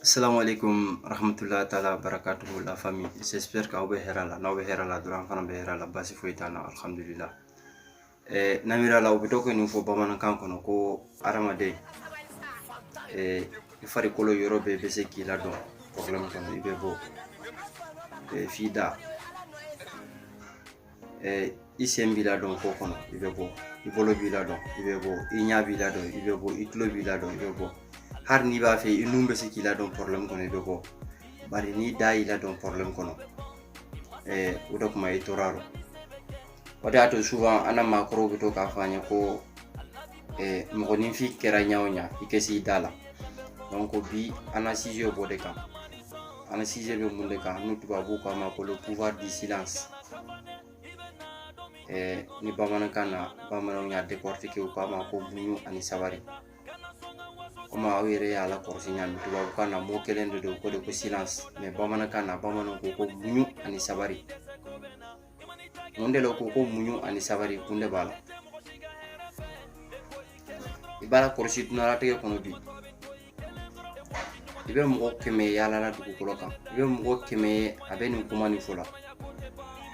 Assalamu alaikum wa rahmatullahi ta'ala wa barakatuhu la famille j'espère que aw bɛ hɛrɛ la n'aw bɛ hɛrɛ la dɔrɔn an fana bɛ hɛrɛ la basi foyi t'an na alhamdulillah eh, namira la u bɛ to ka nin fɔ bamanankan kɔnɔ ko hadamaden eh, i farikolo yɔrɔ bɛɛ bɛ se k'i ladon problème kɔnɔ i bɛ bɔ eh, f'i da eh, i sen b'i ladon ko kɔnɔ i bɛ bɔ i bolo b'i ladon i bɛ bɔ i ɲa b'i ladon i bɛ bɔ i tulo b'i ladon i bɛ bɔ hali n'i b'a fɛ i nun bɛ se k'i ladon problème kɔnɔ i bɛ bɔ bari n'i da y'i ladon problème kɔnɔ eh, o de kuma i tor'a rɔ o de y'a to souvent an na maakɔrɔw bɛ to k'a fɔ an ye ko mɔgɔninfin kɛra ɲa o ɲa i ka s'i da la donc bi an na sujet b'o de kan an na sujet bɛ mun de kan ni tubabuw k'a ma ko le pouvoir du silence ni bamanankan na bamananw y'a décortiquer u k'a ma ko muɲu ani sabari komi aw yɛrɛ y'a lakɔrɔsi ɲa min tubabukan na mot kelen de don ko de ko silence mais bamanankan na bamananw ko ko muɲu ani sabari mun de la ko ko muɲu ani sabari kun de b'a la i b'a lakɔrɔsi duɲalatigɛ kɔnɔ bi i bɛ mɔgɔ kɛmɛ ye yaala la dugukolo kan i bɛ mɔgɔ kɛmɛ ye a bɛ nin kuma nin fɔ la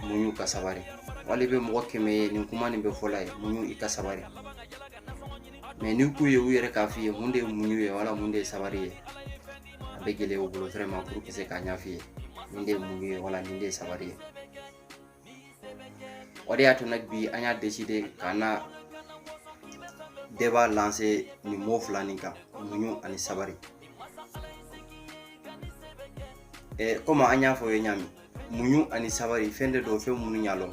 muɲu ka sabari wala i bɛ mɔgɔ kɛmɛ ye nin kuma nin bɛ fɔ l'a ye muɲu i ka sabari mais n'i k'u ye u yɛrɛ k'a f'i ye mun de ye muɲu ye wala mun de ye sabari ye a bɛ gɛlɛya u bolo vraiment pour que se k'a ɲɛf'i ye nin de ye muɲu ye wala nin de ye sabari ye o de y'a to donc bi an y'a décider k'an na débat lancer nin mot fila nin kan muɲu ani sabari eh, komi an y'a fɔ aw ye ɲa min muɲu ani sabari fɛn de don fɛn minnu y'a lɔn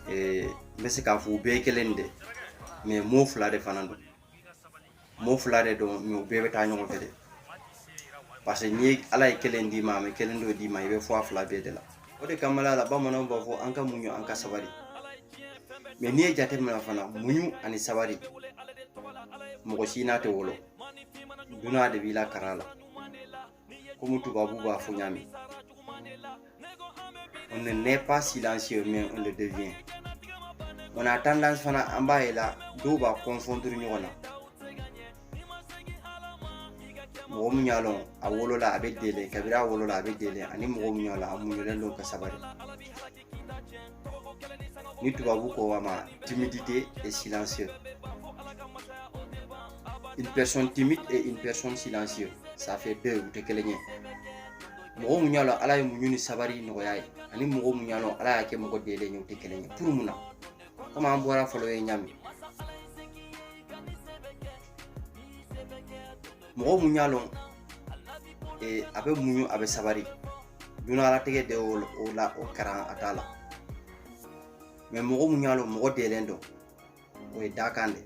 eh, n bɛ se k'a fɔ u bɛɛ ye kelen de mais mot fila de fana don Mot fila de don mais u bɛɛ bɛ taa ɲɔgɔn fɛ de parce que n'i ye ala ye kelen d'i ma a ma kelen dɔ d'i ma i bɛ fɔ a fila bɛɛ de la o de kama la bamananw b'a fɔ an ka muɲu an ka sabari mais n'i ye jate minɛ fana muɲu ani sabari mɔgɔ si n'a tɛ wolo duɲa de b'i lakaran a la komi tubabu b'a fɔ ɲa min on ne naît pas silencieux mais on le devient on a tendance fana an b'a ye la dɔw b'a confondre ɲɔgɔn na mɔgɔ min y'a lɔn a wolola a bɛ delen kabiri a wolola a bɛ delen ani mɔgɔ min y'a lɔn a muɲulen don ka sabari ni tubabu ko a ma timidité et silencieux une personne timide et une personne silencieuse ça fait deux u tɛ kelen ye mɔgɔ min y'a lɔn ala ye muɲu ni sabari nɔgɔy'a ye ani mɔgɔ min y'a lɔn ala y'a kɛ mɔgɔ delen ye u tɛ kelen ye pour mun na komi an bɔr'a fɔ l'aw ye ɲa min mɔgɔ mun y'a lɔn ee, a bɛ muɲu a bɛ sabari dunalatigɛ de o la o karan a t'a la mais mɔgɔ mun y'a lɔn mɔgɔ dɛlen don o ye dakan de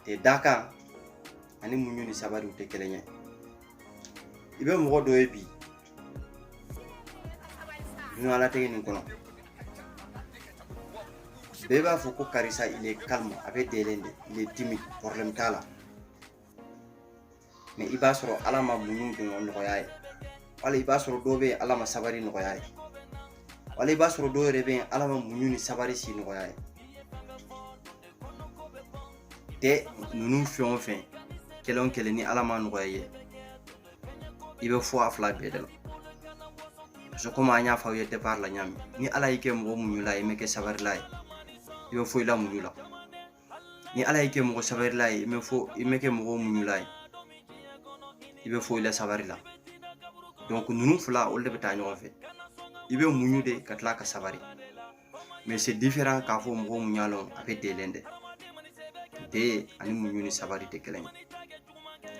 te dakan ani muɲu ni sabari u tɛ kelen ye i bɛ mɔgɔ dɔ ye bi dunalatigɛ nin kɔnɔ bɛɛ b'a fɔ ko karisa il est calme a bɛ dɛlen de il est timide problème t'a la mais i b'a sɔrɔ ala ma muɲu de nɔgɔya ye wala i b'a sɔrɔ dɔw bɛ yen ala ma sabari nɔgɔya ye wala i b'a sɔrɔ dɔw yɛrɛ bɛ yen ala ma muɲu ni sabari si nɔgɔya ye tɛ ninnu fɛn o fɛn kelen o kelen ni ala ma nɔgɔya ye i bɛ fɔ a fila bɛɛ de la parce que komi an y'a fɔ aw ye départ la ɲami ni ala y'i kɛ mɔgɔ muɲula ye i mɛ kɛ sabarila ye i bɛ fɔ i la muɲu la ni ala y'i kɛ mɔgɔ sabarila ye i mɛ fɔ i mɛ kɛ mɔgɔ muɲula ye i bɛ fɔ i la sabari la donc ninnu fila olu de bɛ taa ɲɔgɔn fɛ i bɛ muɲu de ka tila ka sabari mais c'est différent k'a fɔ mɔgɔ mun y'a lɔn a bɛ dɛlen de dɛ ani muɲu ni sabari tɛ kelen ye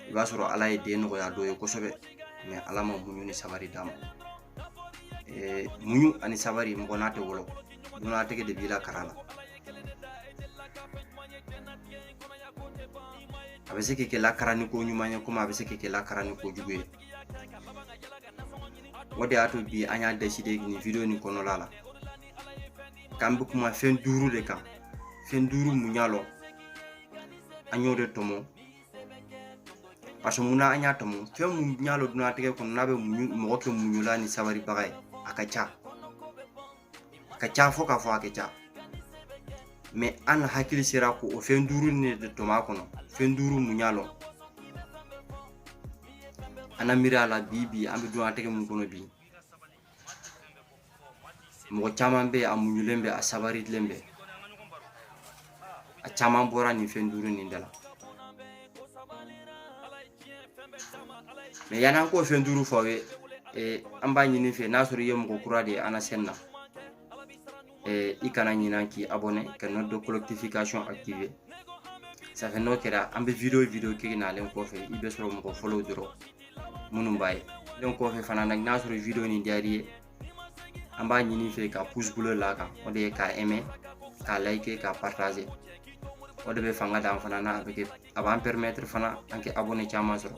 i b'a sɔrɔ ala ye dɛ nɔgɔya dɔ ye kosɛbɛ mais ala ma muɲu ni sabari d'a ma eh, muɲu ani sabari mɔgɔ n'a tɛ wolo dunatigɛ de b'i lakaran a la a bɛ se k'i kɛ lakaraniko ɲuman ye komi a bɛ se k'i kɛ lakaraniko jugu ye o de y'a to bi an y'a décidé nin video nin kɔnɔla la k'an bɛ kuma fɛn duuru de kan fɛn duuru mun y'a lɔn an y'o de tɔmɔ parce que munna an y'a tɔmɔ fɛn mun y'a lɔn dunatigɛ kɔnɔ n'a bɛ mɔgɔ kɛ muɲula ni sabaribaga ye a ka ca a ka ca fɔ k'a fɔ a ka ca mais an na hakili sera ko o fɛn duuru nin de tɔmɔ a kɔnɔ fɛn duuru mun y'a lɔn an na miiriya la bi bi an bɛ dunatigɛ mun kɔnɔ bi mɔgɔ caman bɛ a muɲulen bɛ a sabarilen bɛ a caman bɔra nin fɛn duuru nin da la mais yan'an k'o fɛn duuru fɔ aw ye eh, an b'a ɲin'i fɛ n'a sɔrɔ i ye mɔgɔ kura de ye an na chaîne na eh, i kana ɲinan k'i abonné ka note de collectification activer ça fait n'o kɛra an bɛ video video kɛ nalen kɔfɛ i bɛ sɔrɔ mɔgɔ fɔlɔw dɔrɔn minnu b'a ye donc kɔfɛ fana n'a sɔrɔ video nin diyar'i ye an b'a ɲin'i fɛ ka pouce bleu la kan o de ye k'a aimer k'a liker k'a partager o de bɛ fanga d'an fana na a bɛ kɛ a b'an permettre fana an kɛ abonné caman sɔrɔ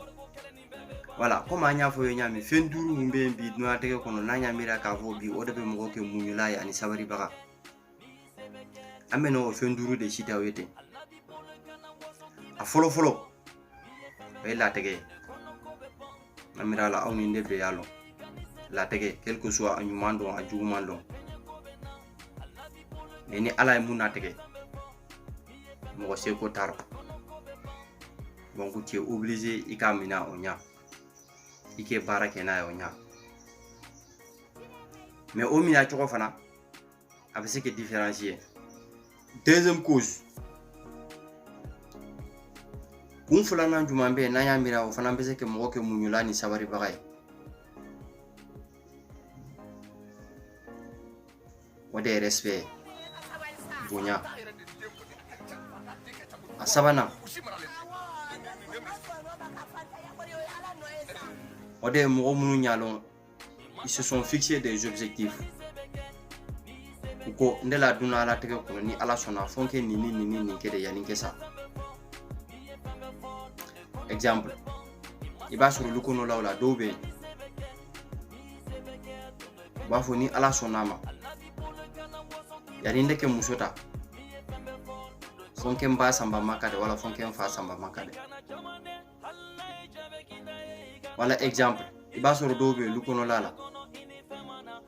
voilà komi an y'a fɔ ye ɲami fɛn duuru mun bɛ yen bi dunatigɛ kɔnɔ n'an y'a miiri k'a fɔ bi o de bɛ mɔgɔ kɛ muɲula ye ani sabaribaga an bɛ n'o fɛn duuru de citer aw ye ten a fɔlɔ fɔlɔ o ye latigɛ ye an miiri la aw ni ne bɛɛ y'a lɔn latigɛ quel que soit a ɲuman don a juguman don mais ni ala ye mun latigɛ mɔgɔ seko t'a rɔ donc tu es obligé i k'a minɛ o ɲa i kɛ baara kɛ n'a ye o ɲa mais o minɛ cogo fana a bɛ se ka différencier deuxième cause kun filanan jumɛn bɛ yen n'an y'a miiri o fana bɛ se ka mɔgɔ kɛ muɲula ni sabaribaga ye o de ye respect bonya a sabanan o de ye mɔgɔ minnu y'a lɔn ils se sont fixés des objectifs u ko ne la dun ala tɛgɛ kɔnɔ ni ala sɔnna fo n kɛ nin ni nin ni nin kɛ de yanni n kɛ sa exemple i b'a sɔrɔ olu kɔnɔlaw la dɔw bɛ yen u b'a fɔ ni ala sɔnna a ma yanni ne kɛ muso ta fo n kɛ n ba sanba maka de wala fo n kɛ n fa sanba maka de wala exemple i b'a sɔrɔ dɔw bɛ yen olu kɔnɔla la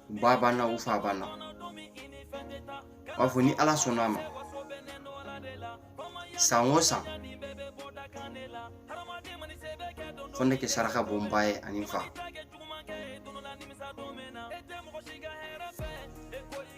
u ba banna u fa banna u b'a fɔ ni ala sɔnna a ma san o san fo ne kɛ saraka bɔ n ba ye ani n fa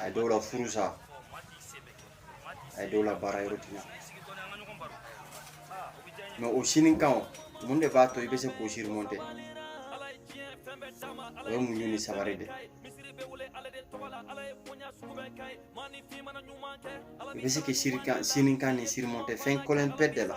a ye dɔw la furu sa a ye dɔw la baara yɔrɔ tiɲa mais o sini kan o mun de b'a to i bɛ se k'o surmonter o ye muɲu ni sabari de i bɛ se ka sini kan nin surmonter fɛn kelen pe de la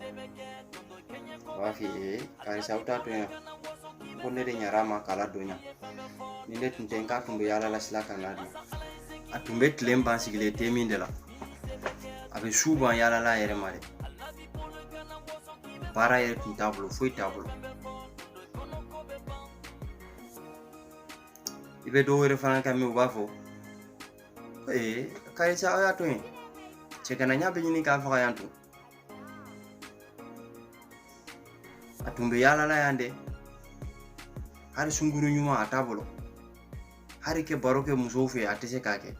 u b'a f'i ye karisa aw t'a to yan ko ne de ɲɛna a ma k'a ladon yan ni ne tun tɛ n k'a tun bɛ yaala sila kan a dun a tun bɛ tile ban sigilen te min de la a bɛ su ban yaala la a yɛrɛ ma dɛ baara yɛrɛ tun t'a bolo foyi t'a bolo i bɛ dɔw wɛrɛ fana kan mɛn u b'a fɔ ee karisa aw y'a to yen cɛganaya bɛ ɲini k'a faga yan to a tun bɛ yaala la yan dɛ hali sunguru ɲuman a t'a bolo hali ka baro kɛ musow fɛ a tɛ se k'a kɛ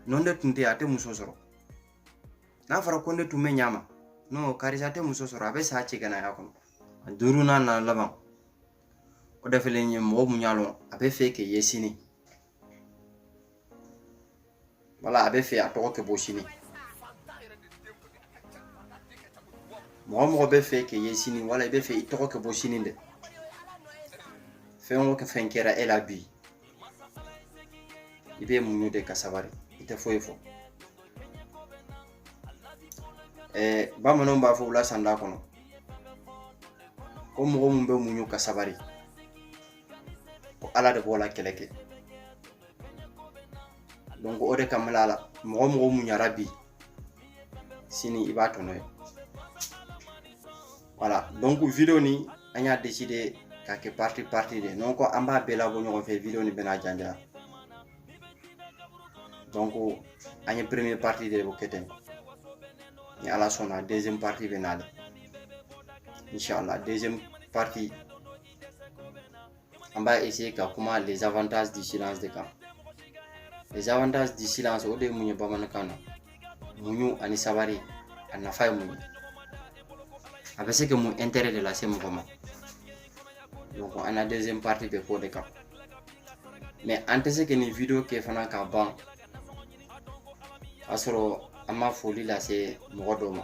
n'o de tun tɛ a tɛ muso sɔrɔ n'a fɔra ko ne tun bɛ ɲa ma non karisa tɛ muso sɔrɔ a bɛ sa cɛganaya kɔnɔ a duurunan n'a laban o de fɛlɛ nin ye mɔgɔ mun y'a lɔn a bɛ fɛ k'i ye sini wala a bɛ fɛ a tɔgɔ ka bɔ sini mɔgɔ o mɔgɔ bɛ fɛ k'i ye sini wala i bɛ fɛ i tɔgɔ ka bɔ sini dɛ fɛn o fɛn kɛra e la bi i bɛ muɲu de ka sabari i tɛ foyi fɔ ɛɛ bamananw b'a fɔ u la sanda kɔnɔ ko mɔgɔ mun bɛ muɲu ka sabari ko ala de b'o la kɛlɛ kɛ donc o de kama la mɔgɔ o mɔgɔ muɲara bi sini i b'a tɔnɔ ye voilà donc video ni an y'a décidé k'a kɛ partie partie de non ko an b'a bɛɛ labɔ ɲɔgɔn fɛ video ni bɛna janya donc an ye première partie de kɛ ten ni ala sɔnna deuxième partie bɛ na le inchallah deuxième partie an b'a essayer ka kuma les avantages du silence de kan les avantages du silence o de ye mun ye bamanankan na muɲu ani sabari a nafa ye mun ye a bɛ se ka mun intérêt de lase mɔgɔ ma donc an na deuxième partie bɛ k'o de kan mais an tɛ se ka nin video kɛ fana ka ban k'a sɔrɔ an ma foli lase mɔgɔ dɔ ma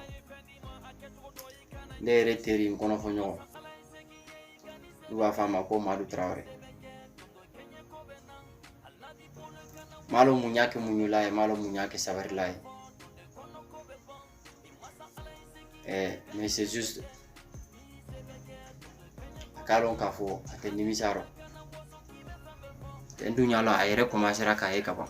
ne yɛrɛ teri n kɔnɔfɔ ɲɔgɔn n'u b'a f'a ma ko madu tarawele malo mun y'a kɛ muɲula ye malo mun y'a kɛ sabarila ye mais c'est juste a k'a lɔn k'a fɔ a tɛ nimisa rɔ dɛ n dun y'a lɔn a yɛrɛ commencéra k'a ye ka ban